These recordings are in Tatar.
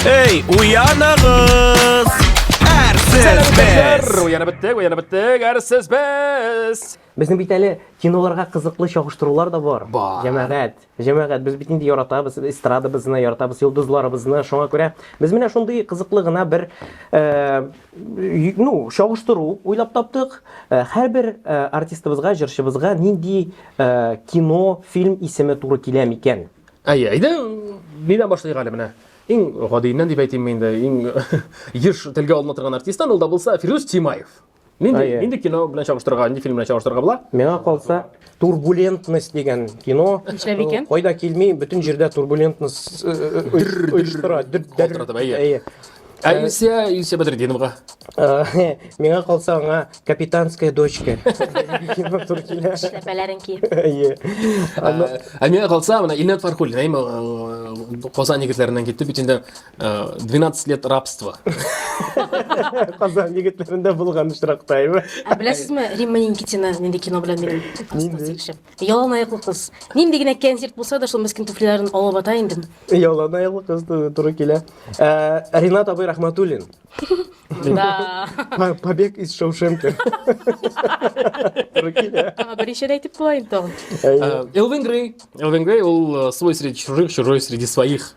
Эй, уяныгыз! Әрсез без! Уянып беттек, уянып беттек, әрсез без! Безнең бит әле киноларга кызыклы чагыштырулар да бар. Бар. Җәмәгать, җәмәгать, без бит инде яратабыз, эстрадабызны яратабыз, йолдызларыбызны. Шуңа күрә без менә шундый кызыклы гына бер э, ну, чагыштыру уйлап таптык. Э, һәрбер э, артистыбызга, җырчыбызга нинди э, кино, фильм исеме туры килә микән? Әй, әйдә, нидән башлыйк әле менә? Иң гадиеннән дип әйтимме инде, иң еш телгә алына торган артисттан ул да булса Фирдүс Тимаев. Нинди, Әйе. нинди кино белән чагыштырырга, нинди фильм белән чагыштырырга була? Миңа калса, турбулентность дигән кино. Нишләп икән? Кайда килми, бөтен җирдә турбулентность э, э, оештыра. Дөп- дәр- Калтыратып, әйе. Әйе. Ә Илсия, Илсия Бәдретдиновага. Э, Миңа калса аңа капитанская дочка. Киңа туры килә. Эшләпәләрен киеп. Әйе. Аны- Ә, Ә миңа калса, менә Илнат Фархуллин, әйме, э, Казан егетләреннән китте бит инде э, 12 лет рабства. Казан егетләрендә булган очракта, әйме? Ә беләсезме, Римма Никитина нинди кино белән минем класстан сөйләшеп? Ялан аяклы кыз. Нинди генә кәнзирт булса да, шул мескен туфлиләрен алып ата инде. Ялан аяклы кыз ту- туры килә. Ә, Ринат абый Рахматуллин. Да. По- Побег из Шоушенки. Туры килә. Аңа беренче дә әйтеп була инде тагын. Әйе. Э, Элвин Грей. Элвин Грей, он э, свой среди чужих, чужой среди своих.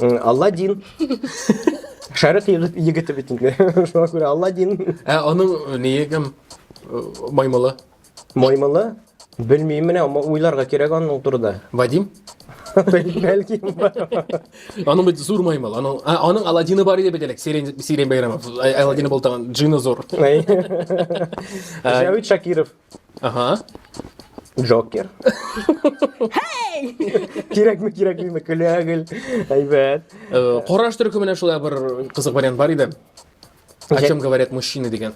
Алладин. Шәрык егете бит инде. Шуңа күрә Алладин. Ә аның э, ние кем? Э, Маймылы. Маймылы? Белмим менә, ама уйларга кирәк аның турында. Вадим? Бәлки. Аның бит зур маймыл. Аның а, аның Аладдины бар иде бит элек. Сирен Сирен Байрамов. Аладдины бултаган джины зур. Җәвит Шакиров. Ага. Джокер. Эй! Кирәкме, кирәкмиме, көләгел. Әйбәт. Э, Кораж төркеменә шулай бер кызык вариант бар иде. О чем говорят мужчины дигән.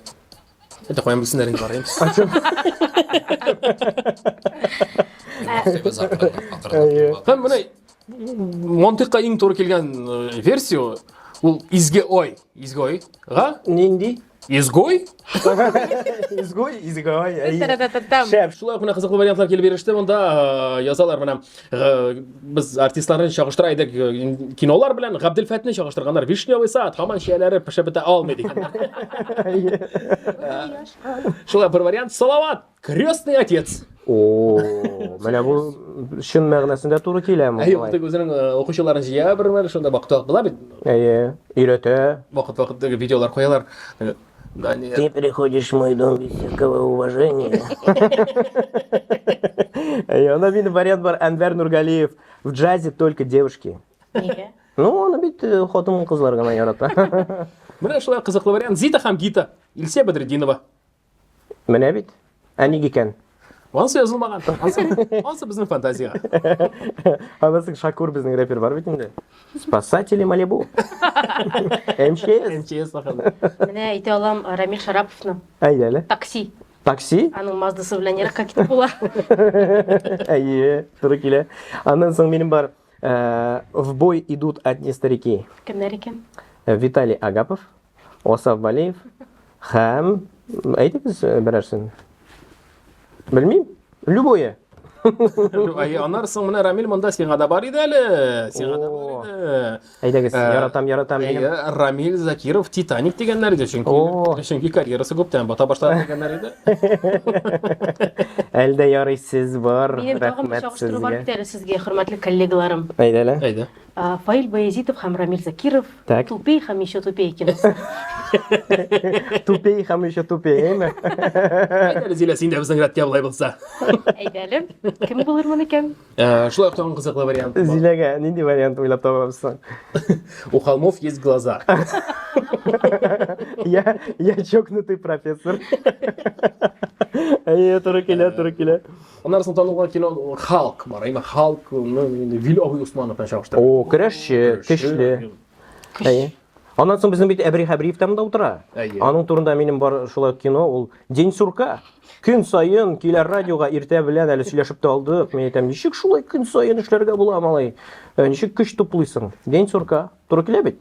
Это куям бисеннәрен барыйм. Әйе. Һәм менә мантыйкка иң туры килгән э, версия ул изге ой, изге ойга Нинди? Изгой? Изгой, изгой. Шәп, шулай ук менә кызыклы вариантлар килеп иреште. Монда э, язалар менә э, без артистларны чагыштыра идек э, кинолар белән Габделфәтне чагыштырганнар. Вишневый сад, хаман чияләре пешә бетә алмый дигәннәр. Шулай бер вариант. Салават! Крестный отец. О, менә бу чын мәгънәсендә туры киләме? Әйе, ул тик үзенең укучыларын җыя бер мәл, шунда бакта була бит. Әйе, өйрәтә. Вакыт-вакыт теге видеолар куялар. Да нет. Ты приходишь в мой дом без всякого уважения. Әйе, анда бит вариант бар Әнвәр Нургалиев в джазе только девушки. Нигә? Ну, аны бит хатын-кызлар гына ярата. Менә шулай кызыклы вариант. Зита һәм Гита. Илсә Бәдретдинова. Менә бит. Ә ник икән? Ансы язылмаган. Ансы, ансы безнең фантазия. Анысы Шакур безнең рэпер бар бит инде. Спасатели Малибу. МЧС. МЧС ахырда. Менә әйтә алам Рамил Шараповны. Әйдәле. Такси. Такси? Аның маздасы белән еракка китеп була. Әйе, туры килә. Аннан соң минем бар э, В бой идут одни старики. Кемнәр икән? Э, Виталий Агапов, Асаф Валиев һәм әйтегез э, берәрсен. Белмим. Любое. Ай, анар соң менә Рамил монда сиңа да бар иде әле. Сиңа да бар иде. Әйдәгез, э, яратам, яратам. Әйе, Рамил Закиров Титаник дигәннәр иде, чөнки чөнки карьерасы күптән бата башлады дигәннәр иде. Әлдә ярый сез бар. Минем тагын бер чагыштыру бар бит әле сезгә, хөрмәтле коллегаларым. Әйдәле. Әйдә. Фаил Баязитов һәм Рамил Закиров Так. тупей һәм еще тупей киносы. Тупей һәм еще тупей, әйме? Әйт әле, Зилә, син дә безнең рәткә болай булса. Әйдә әле, кем булырмын икән? Ә, Шулай ук тагын кызыклы вариант. бар. Зиләгә нинди вариант уйлап табабыз соң? У холмов есть глаза. Я, я чокнутый профессор. Әйе, туры килә, туры килә. Аннары соң танылган кино Халк бар. Әйме Халк, ну, инде Вил Абый Усманов белән чагыштырып. О, көрәшче, көчле. Әйе. Аннан соң безнең бит Әбри Хәбриев там да утыра. Әйе. Аның турында минем бар шулай кино, ул День сурка. Көн саен киләр радиога иртә белән әле сөйләшеп тә алдык. Мин әйтәм, ничек шулай көн саен эшләргә була, малай? Ничек көч туплыйсың? День сурка. Туры килә бит.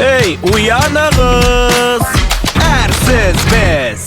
Эй, уяныгыз! Әрсез без!